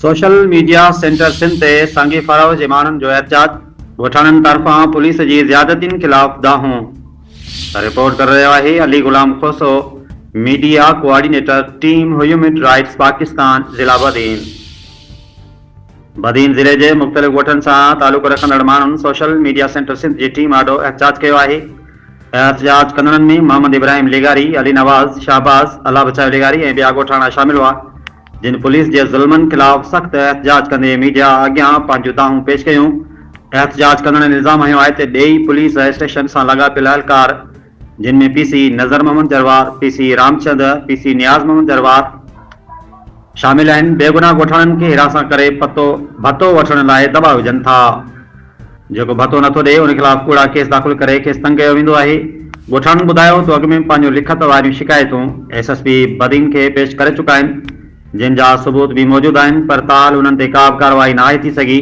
Social media centre Sindh تي سانگي فراوه جي ماڻهن جو احتجاج، ڳوٺاڻن طرفان پوليس جي زيادتين خلاف دانهون. رپورٽ ڪري رهيو آهي Ali Ghulam Khoso, media coordinator team human rights Pakistan ضلع بدين. بدين ضلعي جي مختلف ڳوٺن سان تعلق رکندڙ ماڻهن سوشل ميڊيا سينٽر سنڌ جي ٽيم آڏو احتجاج ڪيو آهي، احتجاج ڪندڙن ۾ محمد ابراهيم لغاري، علي نواز، شهباز، الله بچايو لغاري ۽ ٻيا ڳوٺاڻا شامل هئا، جن پوليس جي ظلمن خلاف سخت احتجاج ڪندي ميڊيا اڳيان پنهنجون دانهون پيش ڪيون. احتجاج ڪندڙن الزام هنيو آهي ته ڏيئي پوليس اسٽيشن سان لاڳاپيل اهلڪار جن ۾ P C Nazar Muhammad Jarwar, P C Ramchand, P C Niaz Muhammad Jarwar, شامل آهن، بيگناهه ڳوٺاڻن کي هراسان ڪري پتو ڀتو وٺڻ لاء دٻاء وجهن ٿا. جيڪو ڀتو نٿو ڏئي ان خلاف ڪوڙا ڪيس داخل ڪري کيس تنگ ڪيو ويندو آهي، ڳوٺاڻن ٻڌايو ته اڳ ۾ پنهنجون لکت واريون شڪايتون ايس ايس پي بدين کي پيش ڪري چڪا آهن جن جا ثبوت به موجود آهن پر تاحال انهن تي ڪابه ڪارروائي ناهي ٿي سگهي،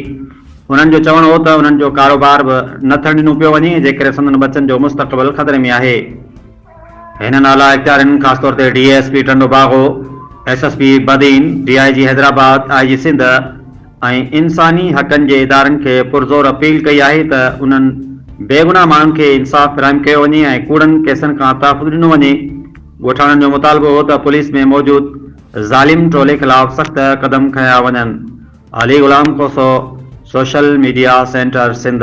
انهن جو چوڻ هو ته انهن جو ڪاروبار به نه ٿيڻ ڏنو پيو وڃي جنهن ڪري سندن ٻچن جو مستقبل خطري ۾ آهي. هنن اعليٰ اختيارين خاص طور تي D S P Tando Bago, S S P Badin, D I G Hyderabad, I G Sindh ۽ انساني حقن جي ادارن کي پرزور اپيل ڪئي آهي ته انهن بيگناهه ماڻهن کي انصاف فراهم ڪيو وڃي ۽ ڪوڙن ڪيسن کان تحفظ ڏنو وڃي. ڳوٺاڻن جو مطالبو هو ته پوليس ۾ موجود ظالم ٽولي خلاف سخت قدم کنيا وڃن. Ali Ghulam Khoso, social media centre Sindh.